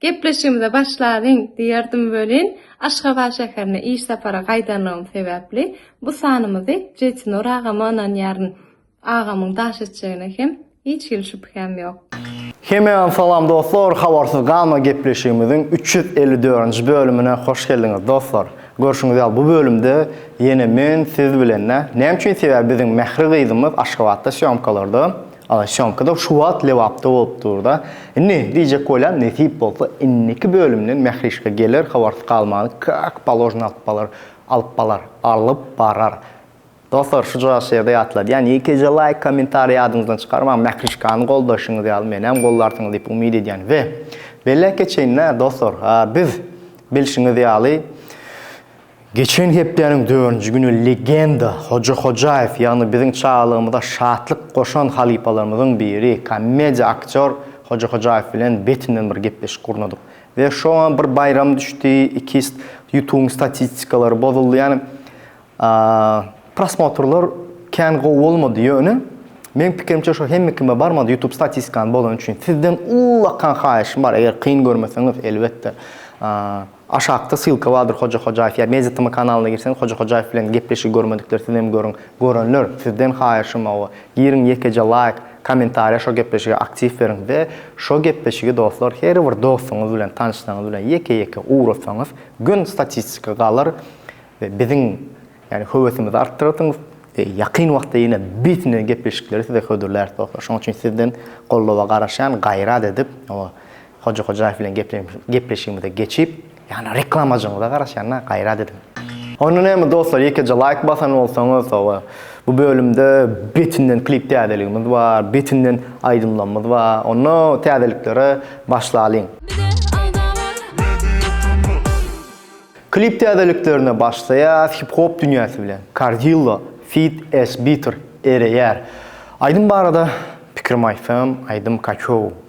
Gepleşigimize başlalyň, diýerdim welin, Aşgabat şäherine iş sapara gaýdanlygym sebäpli, bu sanymyzy Jetinur agama ynanýaryn. Agamyň daş etjegine hem hiç hili şübhäm ýok. Hemäňize salam dostlar, Habarsyz galma gepleşigimiziň üç ýüz elli dördünji bölümine hoş geldiňiz dostlar. Görşüňiz ýaly bu bölümde ýene men, siz bilen-de, näme üçin sebäbi biziň Mähri gyzymyz Aşgabatda sýomkalarda. Agşy soňkyda şu wagt Lebapda bolup dur-da. Indi, diýjek bolýan, nesip bolsa, indiki bölümden Mährişka geler, habarsyz galmany kak paložny alyp balar, alyp balar, alyp barar. Dostlar, şujagaz şu ýerde ýatladýan, ýekeje laýk, kommentariý ýadyňyzdan çykarmaň, Mährişkany goldaşyňyz ýaly menem goldarsyňyz diýip umyt edýän we belläp geçeýin-dä, dostlar, biz, bilşiňiz ýaly, Geçen hepdäniň dördünji güni legenda Hoja Hojaýew, ýagny biziň çagalygymyza şatlyk goşan halypalarymyzyň biri, komediýa aktýor Hoja Hojaýew bilen betinden bir gepleşik gurnadyk. We şoňa bir baýram düşdi, ikist Ýutubyň statistikalary bozuldy, ýagny prosmotrlar kän gowy bolmady, ýöne meň pikirimçe şo hemme kime barmady, Ýutub statistikany bozany üçin. Sizden ullakan haýyşym bar, eger kyn görmeseňiz, elbetde. Aşakda sylka bardyr Hoja Hojaýew ýa Mediatm kanalyna girseňiz Hoja Hojaýew bilen gepleşigi görmedikler sizem görüň. Görenler sizden haýyşym hawa giriň ýekeje laýk, kommentariýa şo gepleşige aktiw beriň we şo gepleşigi dostlar her bir dostuňyz bilen tanyşlaňyz bilen ýeke ýeke ugratsaňyz gün statistika galar we biziň ýani höwesimizi artdyrarsyňyz we ýakyn wagtda ýene bit-ne gepleşikleri size hödürläris dostlar şoň üçin sizden goldawa garaşýan gaýrat edip Hoja Hojaýew bilen gepleşigimize geçip, ýagny reklamajygyňyza garaşýan-a, gaýrat ediň. Onda näme dostlar ýekeje laýk basan bolsaňyz hawa bu bölümde betinden klip täzeligimiz bar betinden aýdymlamyz bar onda täzeliklere başlalyň. Klip täzeliklerine başlaýas hip hop dünýäsi bilen Karzillo feat S-Bitter ereýär aýdym barada pikirim aýtsam aýdym kaçow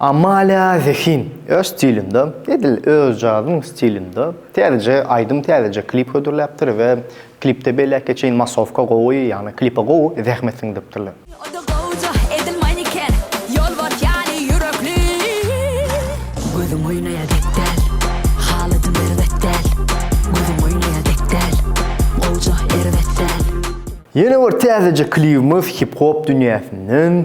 Amalia Zehin öz stilinde, edil özjadyň stilinde täzeje aýdym, täzeje klip hödürläpdir we klipde beýläkge çenli massowka gowy, ýagny klipe gowy zähmet siňdiripdirler. Ody gowja edil maniken, ýolbars ýaly ýürekli. Gözüň oýnaýa dek däl, halatym erbet däl, gözüň oýnaýa dek däl, gowja erbet däl. Ýene bir täzeje klibimiz hip-hop dünýäsinden.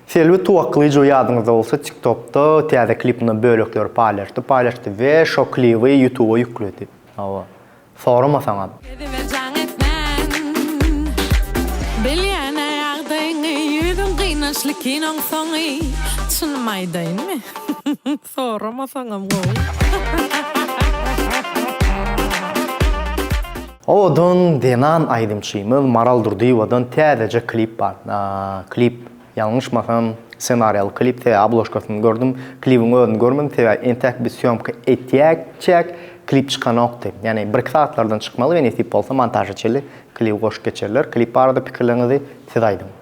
Selbi Tuwaklyjow ýadyňyzda bolsa TikTokda täze klipindan bölekleri paýlaşdy paýlaşdy we şo klibi Ýutuba ýükledi. Hawa. Soramasaňam. Özüme jaň etmän Bilýän-ä ýagdaýyňy Ýüzüň gynançly kinoň soňy Çynymy aýdaýynmy Soramasaňam gowy. Owadan zenan aýdymçymyz Maral Durdyýewadan täzeje klip bar. Klip Ýalňyşmasam, ssenariýaly klip TW obložkasyny gördüm. Klibiň özüni görmedim, sebäbi entäk biz sýomka etýäkçäk, klip çykanokdy. Ýagny birki sagatlardan çykmaly we nesip bolsa montaža çenli klibi goşup geçerler. Klip barada pikirleriňizi siz aýdyň.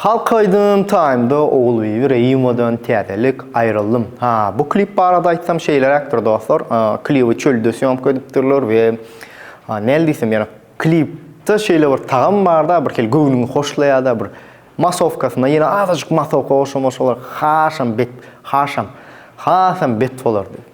Halk aýdym taýynda Ogulbibi Reýimowadan täzelik Aýryldym. Ha, bu klip barada aýtsam şeýleräkdir dostlar, klibi çölde sýomka edipdirler we näl diýsem ýöne klipde şeýle bir tagam barda bir hili göwnüňi hoşlaýada bir masowkasyna ýene azajyk masowka goşsaň goşsalar hasam bet hasam hasam bet bolardy.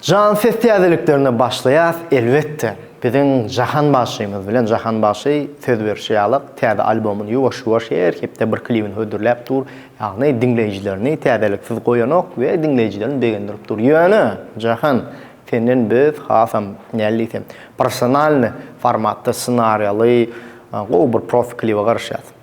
Jan ses täzeliklerine başlaýas elbetde biziň Jahan bagşymyz bilen Jahan bagşy söz berşi ýaly täze albomyny ýuwaş ýuwaş her hepde bir klibini hödürläp dur ýagny diňleýjilerini täzeliksiz goýanok we diňleýjilerini begendirip dur ýöne Jahan senden biz hasam näl diýsem professionalny formatda ssenariýaly gowy bir profi klibe garaşýas.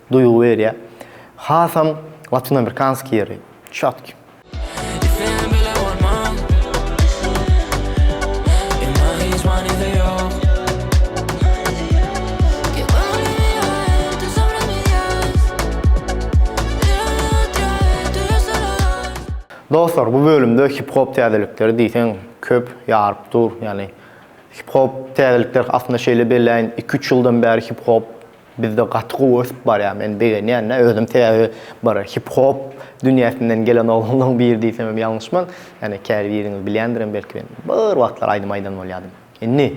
Duýgy berýä. Hasam latinoamerikanskiý ýeri. Çotki. Dostlar bu bölümde hip hop täzelikleri diýseň köp ýaryp dur. Ýagny hip hop täzelikler aslynda şeýle belläýin iki üç ýyldan bäri hip hop Bizde gaty gowy ösüp barýar men begenýänä özüm sebäbi bir hip hop dünýäsinden gelen oglanlaň biri diýsemem ýalňyşman ýani käbiriňiz bilýändirem belki men bir wagtlar aýdym aýdan bolýadym indi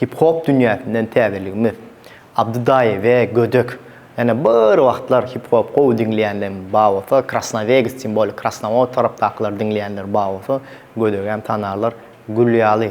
hip hop dünýäsinden täzeligimiz Abdy daýy we gödek ýani bir wagtlar hip hop gowy diňleýänleň bar bolsa krasnawegs tim bolýa krasnawod tarapdakylar diňleýänler bar bolsa gödegem tanarlar gül ýaly.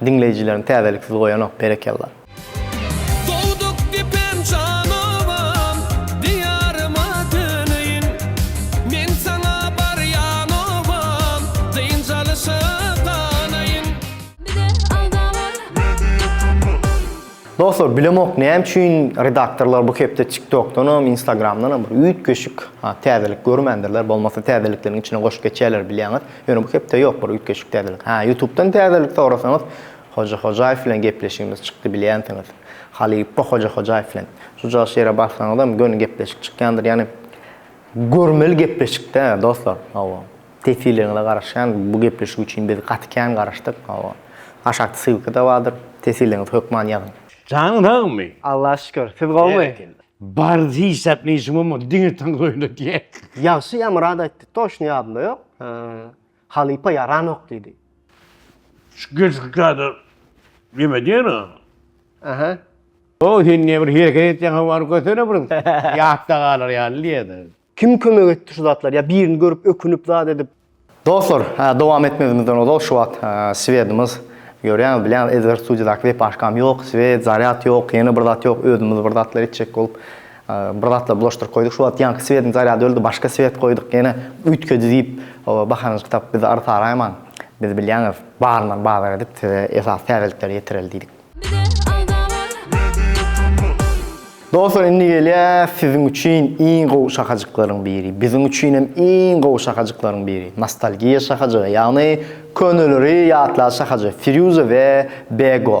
Diňleýjileriň täzeliksiz goýanok berekella. Dogduk depem jan obam, Diýaryma döneýin. Men saňa barýan obam, Dynç alyşa galaýyn. Bize alda bar media turnus. Dostlar bilemok näme üçin redaktorlar bu hepde tiktokdanam instagramdanam bir üýtgeşik täzelik görmändirler bolmasa täzelikleriň içine goşup geçýärler bilýäňiz. Ýöne bu hepde ýok bir üýtgeşik täzelik. Hä, ýutubdan täzelik sorasaňyz, Hoja Hojaýew bilen gepleşigimiz çykdy bilýänsiňiz. Halypa Hoja Hojaýew bilen. Şujagaz şeýra bassaňyzam göni gepleşik çykýandyr. Ýagny görmeli gepleşikde dostlar. Hawa. Teswirleriňize garaşýan bu gepleşik üçin biz gaty kän garaşdyk. Hawa. Aşakda ssylka-da bardyr. Teswirleriňizi hökman ýazyň. Janyň sagmy? Allaha şükür. Siz gowumy? Bary hiçzat neşim bolmady diňe tans oýna diýä. Ýagşy ýa Myrat aýtdy toşny ýadymda ýok halypa ýaranok diýdi. Şu gelşik kadar neme diýen o. Aha. Ow sen nebir hereket etýäň howany götene bir ýatda galar ýaly diýýä da. Kim kömek etdi şu zatlar? Ya birini görüp ökünüp zat edip. Dostlar, dowam etmezimizden ozal şu wagt Swedimiz görýäňiz, bilýäňiz, Edgar studiýadaky wepaşkam ýok, Swed, zarýad ýok, ýene bir zat ýok, özümiz bir zatlar etjek bolup bir zatlar bulaşdyryp goýduk. Şu wagt ýaňky Swediň zarýady öldi, başga Swed goýduk, ýene üýtgedi diýip bahanajyk tapyp bizi artaraýmaň. Biz bilýäňiz, baryndan bazar edip size esasy täzelikleri ýetireli diýdik. Dostlar indi gelýär siziň üçin iň gowy şahajyklaryň biri. Biziň üçin hem iň gowy şahajyklaryň biri. Nostalgiýa şahajygy, ýagny köneleri ýatlaýan şahajyk Firýuza we Bego.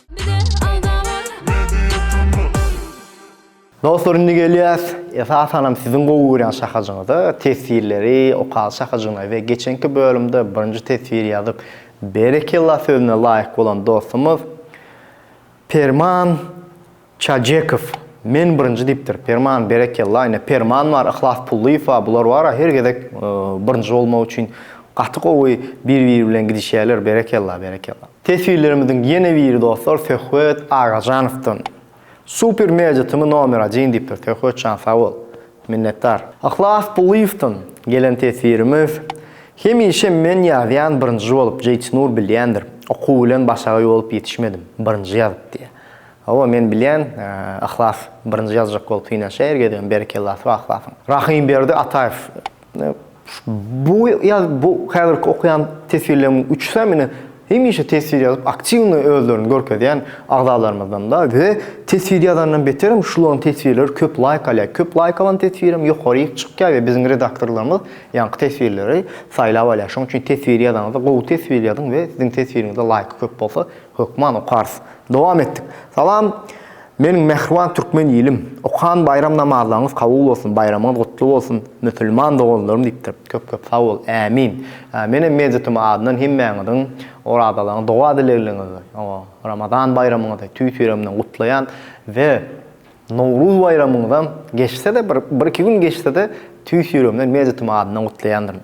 Dostlar indi gelýäs. Esasanam siziň gowy görýän şahajyňyza, teswirleri, okaly şahajygyna we geçenki bölümde birinji teswir ýazyp berekella sözüne laýyk bolan dostumyz Perman Çajekow, Men birinji diýipdir. Perman, Berekella, ine, Perman bar, Yhlas Pullyýew bar, bular bar-a, her gezek birinji bolmak üçin gaty gowy bir-biri bilen gidişýärler, berekella, berekella. Teswirlerimiziň ýene biri dostlar Söhbet Agajanowdan. Super media tymy nomer один diýipdir, Söhbetjan sag bol. Minnetdar. Yhlas Pullyýewden gelen teswirimiz, Hemişe men ýazýan birinji bolup, Jeýtynur bilýändir, okuw bilen başagaý bolup ýetişmedim, birinji ýazyp diýýär. Hawa men bilýän Yhlas birinji ýazjak bolup synanyşýar her gezegem berekella sag yhlasyň. Rahymberdi Ataýew bu ýaz bu häzirki okaýan teswirlerimiň üçüsem ine hemişe teswir ýazyp aktiwnyý özlerini görkezýän agzalarymyzdanda we teswir ýazandan beterem şularyň teswirleri köp laýk alýar köp laýk alan teswirem ýokaryk çykýar we biziň redaktorlarymyz ýaňky teswirleri saýlap alýar şoň üçin teswir ýazaňyzda gowy teswir ýazyň we siziň teswiriňizde laýky köp bolsa Hökman okarys. Dowam etdik. Salam, meniň mähriban türkmen ilim. Okan baýram namazlaryňyz kabul bolsun, baýramyňyz gutly bolsun, musulman doganlarym diýipdir. Köp-köp sag bol. Ämin. Menem MediaTm adyndan hemmäňiziň orazalaryňyzy, doga-dilegliňizi, Ramazan baýramyňyzy tüýs-ýüregimden gutlaýan we Nowruz baýramyňyzam geçse-de, bir-iki gün geçse-de, tüýs-ýüregimden MediaTm adyndan gutlaýandyryn.